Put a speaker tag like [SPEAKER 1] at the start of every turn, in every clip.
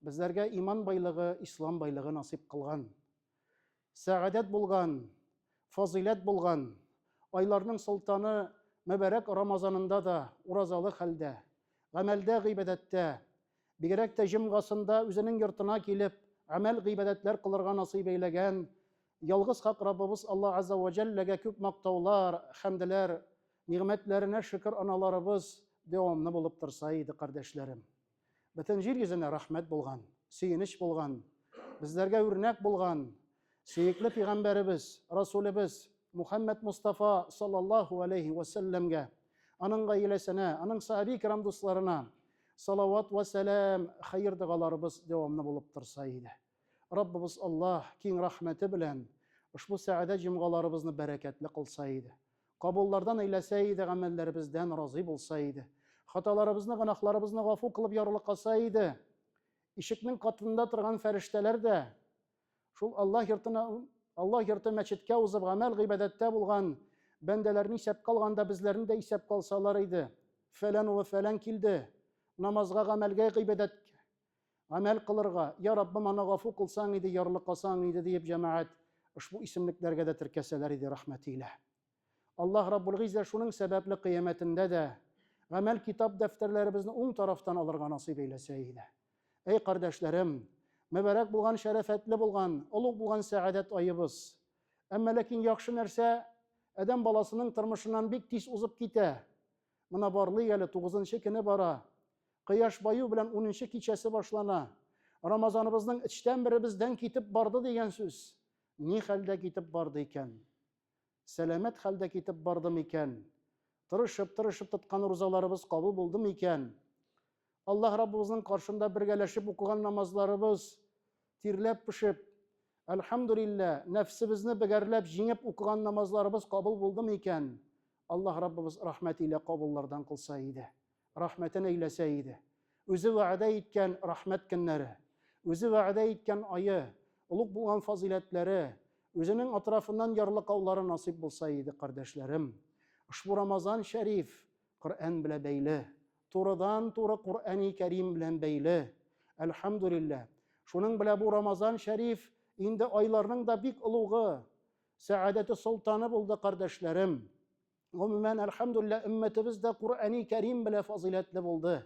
[SPEAKER 1] Безләргә иман байлыгы, ислам байлыгы насыйп кылган. Сәгадәт булган, фазыйләт булган, айларның солтаны мөбәрәк Рамазанында да уразалы хәлдә, гамәлдә, гыйбадәттә, бигрәк тә җомгасында үзенең йортына килеп, гамәл гыйбадәтләр кылырга насыйп әйләгән ялгыз хак Раббыбыз Алла Азза ва Җәлләгә күп мактаулар, хәмделәр, нигъмәтләренә шөкер аналарыбыз дәвамлы булып торса иде, кардәшләрем. Бөтен җир йөзенә рәхмәт булган, сөенеч булган, безләргә үрнәк булган сөекле пигамбәребез, Расулебез Мухаммад Мустафа саллаллаһу алейхи ва сәлләмгә, аның гаиләсенә, аның сахаби кирам дусларына салават ва сәлам, хәер догаларыбыз дәвамлы булып торса иде. Раббыбыз Аллаһ киң рәхмәте белән ошбу сәгадәт җомгаларыбызны бәрәкәтле кылса иде. Кабуллардан әйләсә иде, гамәлләребездән разый булса иде. Хаталарыбызны, гөнаһларыбызны гафу кылып ярлыкаса иде. Ишекнең катында торган фәрештәләр дә шул Аллаһ йортына, Аллаһ йорты мәчеткә узып гамәл-гыйбадәттә булган бәндәләрне исәпкә алганда безләрне дә исәпкә алсалар иде. Фәлән улы фәлән килде, намазга, гамәлгә, гыйбадәткә. Гамәл кылырга, Я Раббым, аны гафу кылсаң иде, ярлыкасаң иде, диеп җәмәгать ошбу исемлекләргә дә теркәсәләр иде, рәхмәте илә. Аллаһ Раббулгыйззә шуның сәбәпле кыямәтендә дә гамәл китап дәфтәрләребезне уң тарафтан алырга насыйп әйләсә иде. Әй кардәшләрем, мөбарәк булган, шәрәфәтле булган, олуг булган сәгадәт аебыз! Әмма ләкин яхшы нәрсә адәм баласының тормышыннан бик тиз узып китә. Мына барлый әле тугызынчы көне бара. Кояш баю белән унынчы кичәсе башлана. Рамазаныбызның эчтән беребездән китеп барды дигән сүз. Ни хәлдә китеп барды икән? Сәламәт хәлдә китеп барды микән? Тырышып-тырышып тоткан рузаларыбыз кабул булды микән? Аллаһ Раббыбызның каршында бергәләшеп укыган намазларыбыз тирләп пешеп, Әлхәмдүлиллә, нәфсебезне бегәрләп, җиңеп укыган намазларыбыз кабул булдымы икән? Аллаһ Раббыбыз рәхмәт илә кабуллардан кылса иде, рәхмәтен әйләсә иде. Үзе вәгъдә иткән рәхмәт көннәре, Үзе вәгъдә иткән ае, олуг булган фазыйләтләре, Үзенең атрафыннан ярлыкаулары насыйп булса иде, кардәшләрем! Ошбу Рамазан шәриф Коръән белә бәйле. Турыдан туры Коръәни Кәрим белән бәйле. Әлхәмдүлилләһ. Шуның белә бу Рамазан шәриф инде айларның да бик олугы, сәадәте солтаны булды, кардәшләрем. Гомумән, әлхәмдүлилләһ, өммәтебез дә Коръәни Кәрим белә фазыйләтле булды.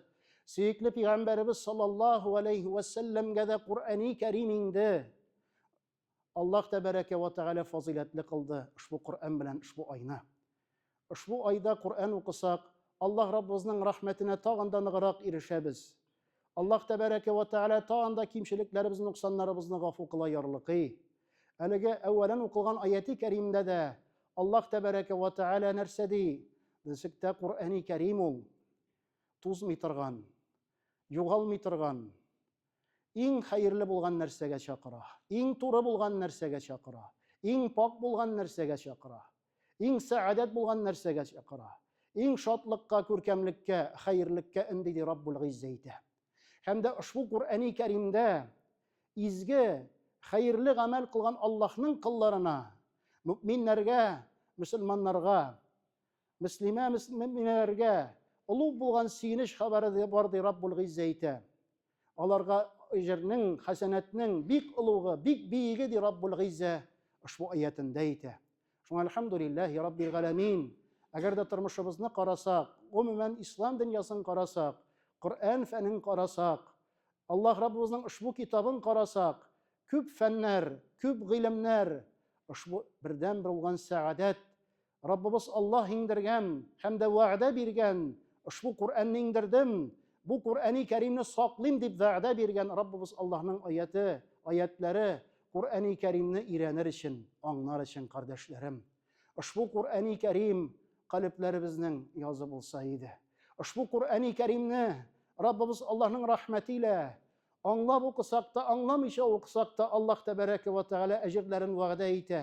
[SPEAKER 1] Сөекле пигамбәребез саллаллаһу алейһи вәсәлләмгә дә Коръәни Кәрим инде. Аллаһ Тәбәрәкә вә Тәгалә фазыйләтле кылды ошбу Коръән белән ошбу айны. Ошбу айда Коръән укысак, Аллаһ Раббыбызның рәхмәтенә тагын да ныграк ирешәбез. Аллаһ Тәбәрәкә вә Тәгалә тагын да кимчелекләребезне, ноксаннарыбызны гафу кыла ярлыкый. Әлеге әүвәлен укылган аяти кәримдә дә Аллаһ Тәбәрәкә вә Тәгалә нәрсә ди? Ничектә Коръәни Кәрим ул? Тузмый торган, югалмый торган, Иң хәерле булган нәрсәгә чакыра. Иң туры булган нәрсәгә чакыра. Иң пакь булган нәрсәгә чакыра. Иң сәадәт булган нәрсәгә чакыра. Иң шатлыкка, күркәмлеккә, хәерлеккә өнди, ди Раббул Гыйззә әйтә. Һәм дә ошбу Куръәни Кәримдә изге, хәерле гамәл кылган Аллаһның колларына, мөэминнәргә, мөселманнарга Мөслимә мөминәләргә олуг булган сөенеч хәбәре дә бар ди Раббул Гиззә әйтә. Аларга әҗернең, хәсәнәтнең бик олугы, бик биеге ди Раббул Гиззә ошбу аятында әйтә. Шуңа альхамдулиллахи раббил галәмин. Әгәр дә тормышыбызны карасак, гомумән ислам дөньясын карасак, Коръән фәнен карасак, Аллаһ Раббыбызның ошбу китабын карасак, күп фәннәр, күп гыйлемнәр, ошбу бердән булган сәгадәт Раббыбыз Аллаһ иңдергән һәм дә вәгъдә биргән ошбу Коръәнне иңдердем, бу Коръәни Кәримне саклыйм дип вәгъдә биргән Раббыбыз Аллаһның аяте, аятләре, Коръәни Кәримне өйрәнер өчен, аңнар өчен, кардәшләрем. Ошбу Коръәни Кәрим калебләребезнең язы булса иде. Ошбу Коръәни Кәримне Раббыбыз Аллаһның рәхмәте илә аңлап укысак та, аңламыйча укысак та, Аллаһ тәбәрәкә вә тәгалә әҗерләрен вәгъдә итә.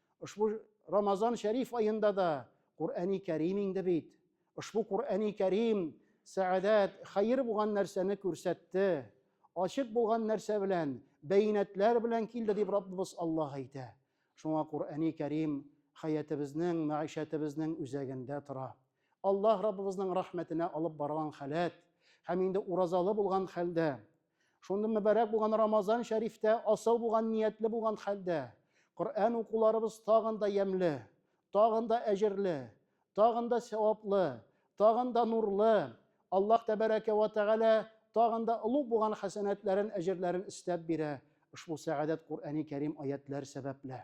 [SPEAKER 1] Ошбу Рамазан шәриф аенда да Куръәни Кәрим инде бит. Ошбу Куръәни Кәрим сәадәт, хәер булган нәрсәне күрсәтте. Ачык булган нәрсә белән, бәйнәтләр белән килде дип Раббыбыз Аллаһ әйтә. Шуңа Куръәни Кәрим хәятебезнең, мәгышәтебезнең үзәгендә тора. Аллаһ Раббыбызның рәхмәтенә алып барган халәт һәм инде уразалы булган хәлдә Шундый мөбарәк булган Рамазан шәрифтә асыл булган ниятле булган хәлдә Коръән укуларыбыз тагын да ямьле, тагын да әҗерле, тагын да сәваплы, тагын да нурлы, Аллаһ тәбәрәкә вә тәгалә тагын да олуг булган хәсәнәтләрен, әҗерләрен өстәп бирә ошбу сәгадәт Коръәни Кәрим аятьләр сәбәпле.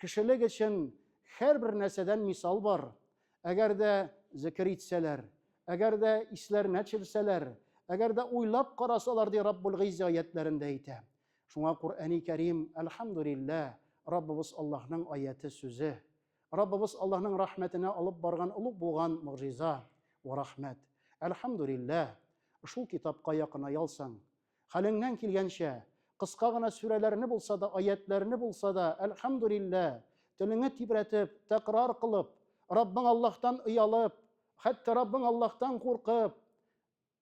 [SPEAKER 1] Кешелек өчен һәрбер нәрсәдән мисал бар. Әгәр дә зикер итсәләр, әгәр дә исләренә төшерсәләр, әгәр дә уйлап карасалар, ди Раббул Гыйззә аятләрендә әйтә. Шуңа Коръәни Кәрим, әлхәмдүлиллә, Раббыбыз Аллаһның аяте сүзе. Раббыбыз Аллаһның рәхмәтенә алып барган олуг булган могҗиза ва рәхмәт. Әлхәмдүлиллә, шул китапка якыная алсаң, Хәлеңнән килгәнчә, кыска гына сүрәләрне булса да, аятьләрне булса да, әлхәмдүлилләһ, телеңне тибрәтеп, тәкрар кылып, Раббың Аллаһтан оялып, хәтта Раббың Аллаһтан куркып,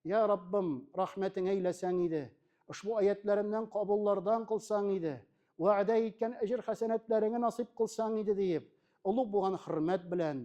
[SPEAKER 1] Я Раббым, рәхмәтеңә әйләсәң иде, ошбу аятьләремнән кабуллардан кылсаң иде, вәгъдә иткән әҗер-хәсәнәтләреңне насыйп кылсаң иде, диеп, олуг булган хөрмәт белән,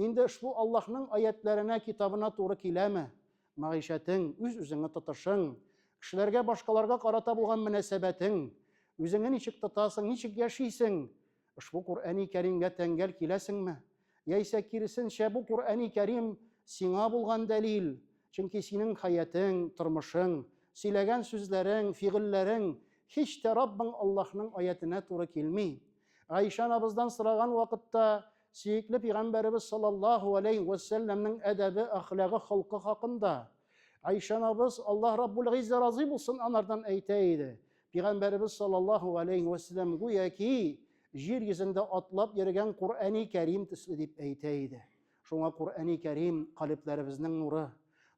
[SPEAKER 1] Инде ошбу Аллаһның аятләренә, китабына туры киләме? Мәгыйшәтең, үз-үзеңне тотышың, кешеләргә, башкаларга карата булган мөнәсәбәтең, үзеңне ничек тотасың, ничек яшисең? Ошбу Куръәни Кәримгә тәңгәл киләсеңме? Яисә киресенчә, бу Куръәни Кәрим сиңа булган дәлил, чөнки синең хәятең, тормышың, сөйләгән сүзләрең, фигыльләрең һич тә Раббың Аллаһның аятенә туры килми. Гайшә анабыздан сораган вакытта, Сөекле пигамбәребез саллаллаһу алейһи вә сәлләмнең әдәбе, әхлагы, холкы хакында Айша анабыз, Аллаһ Раббул гыйззә разый булсын анардан, әйтә иде, Пигамбәребез саллаллаһу алейһи вә сәлләм гүяки җир йөзендә атлап йөргән Коръәни Кәрим төсле дип әйтә иде. Шуңа Коръәни Кәрим, калебләребезнең нуры,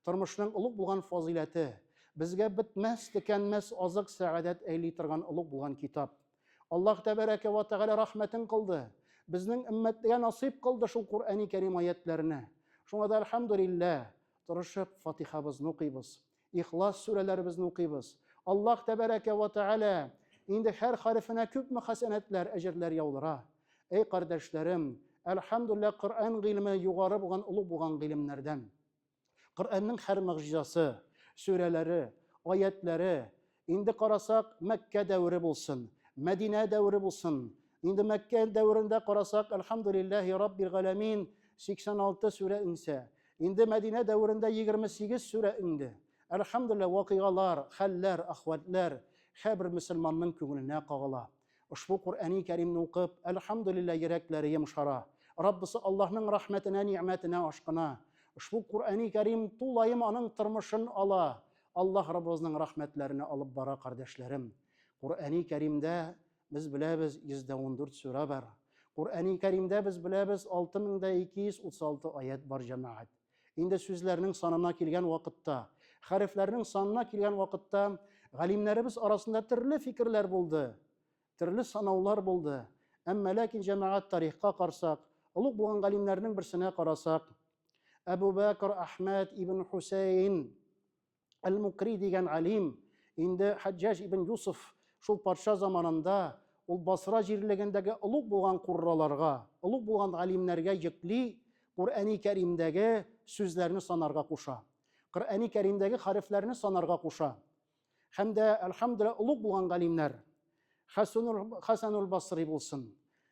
[SPEAKER 1] тормышның олуг булган фазыйләте, безгә бетмәс, төкәнмәс азык, сәгадәт әйли торган олуг булган китап. Аллаһ тәбәрәкә вә тәгалә рәхмәтен кылды. Безнең өммәтгә насыйп кылды шул Куръәни Кәрим аятьләрне. Шуңа да әлхәмдүлилләһ, тырышып Фатихабызны укыйбыз, Ихлас сүрәләребезне укыйбыз. Аллаһ тәбәрәкә вә тәгалә инде һәр хәрефенә күпме хәсәнәтләр, әҗерләр яудыра. Әй кардәшләрем, әлхәмдүлилләһ, Коръән гыйлеме югары булган, олуг булган гыйлемнәрдән. Коръәннең һәр могҗизасы, сүрәләре, аятләре, инде карасак, Мәккә дәвере булсын, Мәдинә дәвере булсын, инде Мәккә дәверендә карасак, Әлхәмдүлилләһи Раббил галәмин, 86 сүрә иңсә, инде Мәдинә дәверендә 28 сүрә иңде. Әлхәмдүлилләһ, вакыйгалар, хәлләр, ахвәтләр һәрбер мөселманның күңеленә кагыла. Ошбу Коръәни Кәримне укып, әлхәмдүлилләһ, йөрәкләре йомшара. Раббысы Аллаһның рәхмәтенә, нигъмәтенә ашкына. Ошбу Коръәни Кәрим тулаем аның тормышын ала. Аллаһ Раббыбызның рәхмәтләренә алып бара, кардәшләрем. Коръәни Кәримдә, без беләбез, 114 сүрә бар. Коръәни Кәримдә, без беләбез, 6236 аять бар, җәмәгать. Инде сүзләрнең санына килгән вакытта, хәрефләрнең санына килгән вакытта галимнәребез арасында төрле фикерләр булды, төрле санаулар булды. Әмма ләкин җәмәгать тарихка карсак, олуг булган галимнәрнең берсенә карасак, Әбу Бәкр Әхмәд ибн Хусейн Әл-Мукри дигән алим, инде Хаҗҗаҗ ибн Юсуф шул патша заманында ул Басра җирлегендәге олуг булган курраларга, олуг булган алимнәргә йөкли, Коръәни Кәримдәге сүзләрне санарга куша. Коръәни Кәримдәге хәрефләрне санарга куша. Һәм дә, әлхәмдүлилләһ, олуг булган галимнәр, Хәсәнул Басри булсын,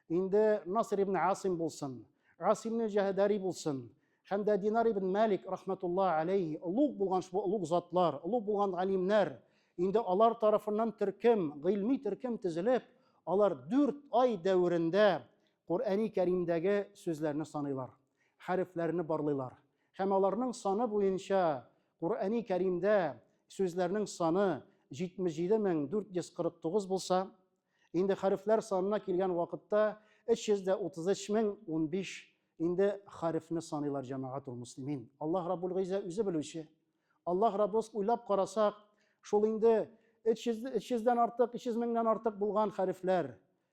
[SPEAKER 1] инде Наср ибн Асим булсын, Асимне Җәһәдәри булсын, һәм дә Динар ибн Мәлик рахмәтулла алейхи, олуг булган шул олуг затлар, олуг булган галимнәр, инде алар тарафыннан төркем, гыйльми төркем тезелеп, алар дүрт ай дәверендә Коръәни Кәримдәге сүзләрне саныйлар, хәрефләрне барлыйлар. Һәм аларның саны буенча Коръәни Кәримдә сүзләрнең саны 77449 булса, инде хәрефләр санына килгән вакытта 333015 инде хәрефне саныйлар җәмәгать ул муслимин. Аллаһ Раббул Гыйзә үзе белүче. Аллаһ Раббус уйлап карасак, шул инде 300 300 дән артык, 300 меңнән артык булган хәрефләр.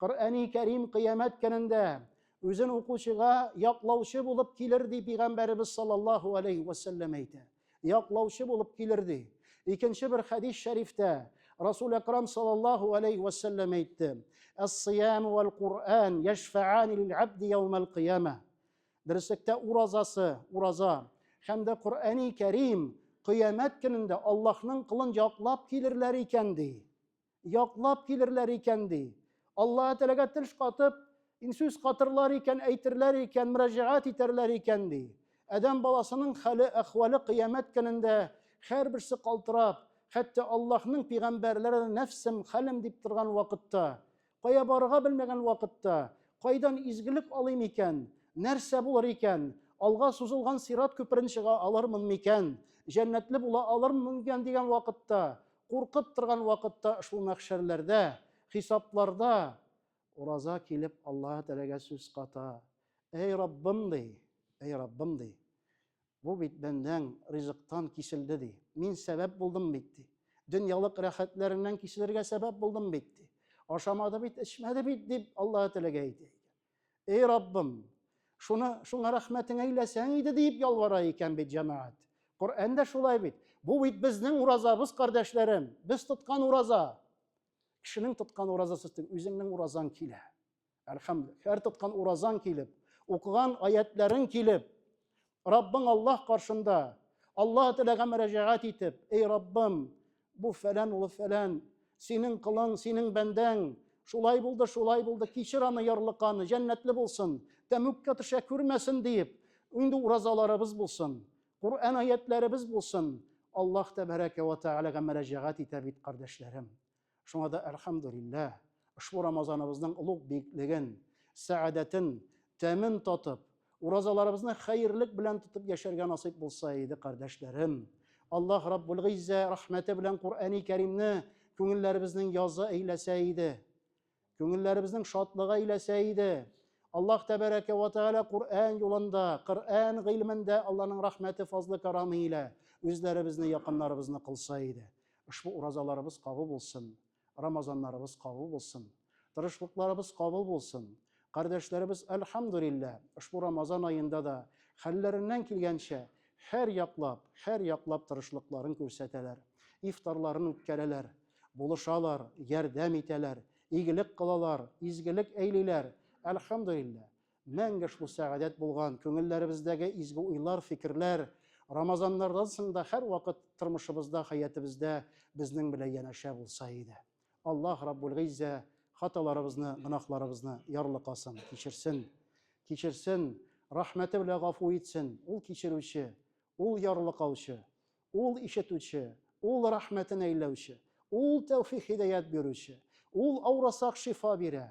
[SPEAKER 1] Коръәни Кәрим кыямәт көнендә үзен укучыга яклаучы булып килер ди пигамбәребез саллаллаһу алейхи вәсәлләм әйтә. Яклаучы булып килер ди. Икенче бер хәдис шәрифтә Расул Акрам саллаллаһу алейхи вәсәлләм әйтте. Ас-сиям вәл Куръан яшфаани лил абди яумал кыяма. Дөреслектә уразасы, ураза һәм дә Коръәни Кәрим кыямәт көнендә Аллаһның кылын яклап килерләр икән ди. Яклап килерләр икән, ди. Аллаһы Тәләгә теш катып, инсүз катырлар икән, әйтерләр икән, мөрәҗәгать итәрләр икән, ди. Адәм баласының хәле, әхвале кыямәт көнендә һәрберсе калтырап, хәтта Аллаһның пигамбәрләре дә нәфсем, хәлем дип торган вакытта, кая барырга белмәгән вакытта, кайдан изгелек алыйм икән, нәрсә булыр икән, алга сузылган сират күперен чыга алырмын микән, җәннәтле була алырмын микән дигән вакытта, Куркып торган вакытта шул мәхшәрләрдә, хисапларда ураза килеп Аллаһы Тәгаләгә сүз ката. Әй Раббым ди, әй Раббым ди. Бу бит бәндәң ризыктан киселде ди. Мин сәбәп булдым бит ди. Дөньялык рәхәтләреннән киселергә сәбәп булдым бит ди. Ашамады бит, эчмәде бит, дип Аллаһы Тәгаләгә әйтә икән. Эй Раббым, шуны шуңа рәхмәтең әйләсәң иде дип ялвара икән бит җәмәгать. Коръән дә шулай бит. Бу бит безнең уразабыз, кардәшләрем. Без тоткан ураза. Кешенең тоткан уразасы түгел, үзеңнең уразаң килә. Әлхәмдүлилләһ. Һәр тоткан уразаң килеп, укыган аятләрең килеп, Раббың Аллаһ каршында, Аллаһ теләгә мөрәҗәгать итеп, эй Раббым, бу фәлән улы фәлән, синең кылың, синең бәндәң, шулай булды, шулай булды, кичер аны ярлыканы, җәннәтле булсын, тәмүккә төшә күрмәсен диеп, инде уразаларыбыз булсын, Коръән аятьләребез булсын, Аллаһ тәбәрәкә вә тәгаләгә мөрәҗәгать итә бит, кардәшләрем. Шуңа да әлхәмдүлилләһ, ошбу Рамазаныбызның олуг биеклеген, сәадәтен, тәмен татып, уразаларыбызны хәерлек белән тотып яшәргә насыйп булса иде, кардәшләрем. Аллаһ Раббулгыйззә рәхмәте белән Куръәни Кәримне күңелләребезнең язы әйләсә иде. Күңелләребезнең шатлыгы иләсә иде. Аллаһ тәбәрәкә ва тәгалә Коръән юлында, Коръән гыйлемендә Аллаһның рәхмәте, фазлы карамы илә үзләребезне, якыннарыбызны кылса иде. Ошбу уразаларыбыз кабул булсын, Рамазаннарыбыз кабул булсын, тырышлыкларыбыз кабул булсын. Кардәшләребез, әлхәмдүлиллә, ошбу Рамазан аенда да хәлләреннән килгәнчә һәр яклап, һәр яклап тырышлыкларын күрсәтәләр, ифтарларын үткәрәләр. Булышалар, ярдәм итәләр, игелек кылалар, изгелек әйлиләр. Әлхәмдулиллаһ! Мәңге шул сәгадәт булган күңелләребездәге изге уйлар, фикерләр Рамазаннардан соң да һәрвакыт тормышыбызда, хәятыбездә безнең белән янәшә булса иде. Аллаһ Раббулгыйззә хаталарыбызны, гөнаһларыбызны ярлыкасын, кичерсен. Кичерсен, рәхмәте белән гафу итсен. Ул кичерүче, Ул ярлыкаучы. Ул ишетүче, Ул рәхмәтен әйләүче, Ул тәүфик-һидәят бирүче, Ул авырасак шифа бирә,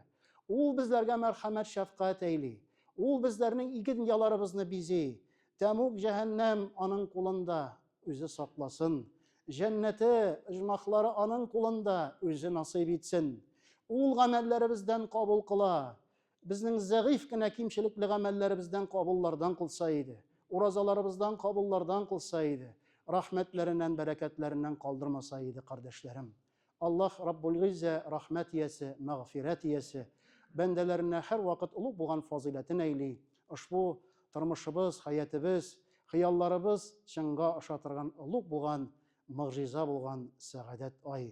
[SPEAKER 1] Ул безләргә мәрхәмәт-шәфкать әйли, Ул безләрнең ике дөньяларыбызны бизи. Тәмуг, җәһәннәм Аның кулында, Үзе сакласын. Җәннәте, оҗмахлары Аның кулында, Үзе насыйп итсен. Ул гамәлләребездән кабул кыла. Безнең зәгыйфь кенә кимчелекле гамәлләребездән кабуллардан кылса иде, уразаларыбыздан кабуллардан кылса иде, рәхмәтләреннән, бәрәкәтләреннән калдырмаса иде, кардәшләрем. Аллаһ Раббулгыйззә, Рәхмәт иясе, Мәгъфирәт иясе, бәндәләренә һәрвакыт олуг булган фазыйләтен әйли, ошбу тормышыбыз, хәятебез, хыялларыбыз чынга аша торган олуг булган, могҗиза булган сәгадәт ай,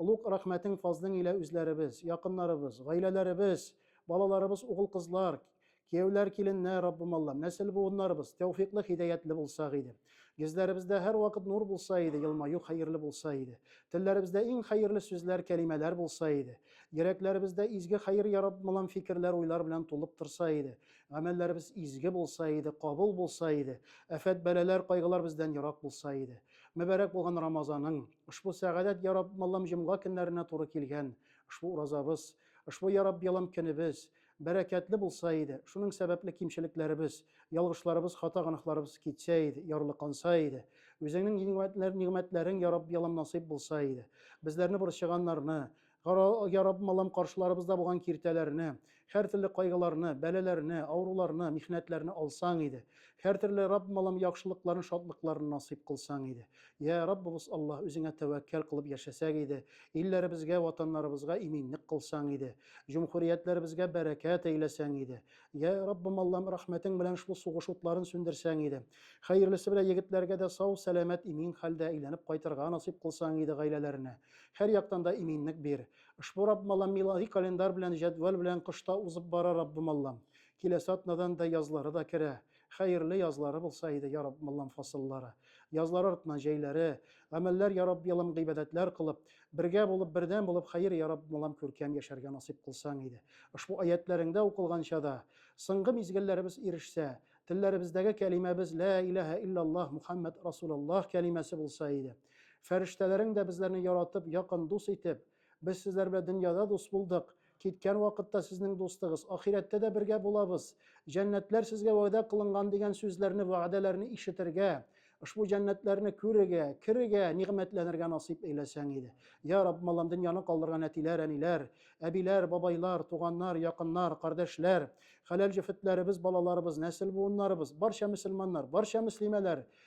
[SPEAKER 1] Олуг рәхмәтең фазлың илә үзләребез, якыннарыбыз, гаиләләребез, балаларыбыз угыл-кызлар, кияүләр, киленнәр, Раббым Аллам, нәсел-буыннарыбыз тәүфиклы, хидәятле булсак иде. Гизләребездә һәрвакыт нур булса иде, елмаю хәерле булса иде. Телләребездә иң хәерле сүзләр, кәлимәләр булса иде. Йөрәкләребездә изге хәер, я Раббым Аллам, фикерләр, уйлар белән тулып торса иде. Гамәлләребез изге булса иде, кабул булса иде. Афәт-бәлаләр, кайгылар бездән ерак булса иде. Мөбарәк булган Рамазаның, ошбу сәгадәт Йа Рабб Аллам җомга көннәренә туры килгән ошбу уразабыз, ошбу Йа Рабб Аллам көнебез бәрәкәтле булса иде, шуның сәбәпле кимчелекләребез, ялгышларыбыз, хата-гөнаһларыбыз китсә иде, ярлыканса иде. Үзеңнең нигъмәтләрең, Йа Рабб Аллам насыйп булса иде. Безләрне борчыганнарны, Яраб, Аллам, каршыларыбызда булган киртәләрне, һәртөрле кайгыларны, бәлаләрне, авыруларны, михнәтләрне алсаң иде. Һәртөрле, Рабб, Аллам, яхшылыкларны, шатлыкларны насыйп кылсаң иде. Йә, Раббыбыз Алла, үзеңә тәвәккәл кылып яшәсәк иде, илләребезгә, ватаннарыбызга иминлек кылсаң иде, җөмһүриятләребезгә бәрәкәт әйләсәң иде. Йә, Раббым Аллам, рәхмәтең белән шул сугыш утларын сүндерсәң иде. Хәерлесе белән егетләргә дә сау-сәламәт, имин хәлдә әйләнеп кайтырга насыйп кылсаң иде гаиләләренә. Һәр яктан да иминлек бир. Ошбу Раббым Аллам милади календарь белән, җәдвәл белән кышта узып бара, Раббым Аллам. Киләсе атнадан да язлары да керә. Хәерле язлары булса иде, я Раббым Аллам, фасыллары. Язлар артыннан җәйләре. Гамәлләр, я Рабби Аллам, гыйбадәтләр кылып. Бергә булып, бердәм булып, хәер, я Раббым Аллам, күркәм яшәргә насыйп кылсаң иде. Ошбу аятьләреңдә укылганча да. Соңгы мизгелләребез ирешсә. Телләребездәге кәлимәбез, Лә иләһә илләллаһ Мухәммәд Расуләллаһ кәлимәсе булса иде. Фәрештәләрең дә безләрне яратып, якын дус итеп, без сезләр белән дөньяда дус булдык, киткән вакытта сезнең дустыгыз, ахирәттә дә бергә булабыз, җәннәтләр сезгә вәгъдә кылынган дигән сүзләрне, вәгъдәләрне ишетергә, ошбу җәннәтләрне күрергә, керергә, нигъмәтләнергә насыйп эйләсәң иде. Я Рабб, маллам, дөньяны калдырган әтиләр, әниләр, әбиләр, бабайлар, туганнар, якыннар, кардәшләр, хәләл җефетләребез, балаларыбыз, нәсел-буыннарыбыз, барча мөселманнар, барча мөслимәләр,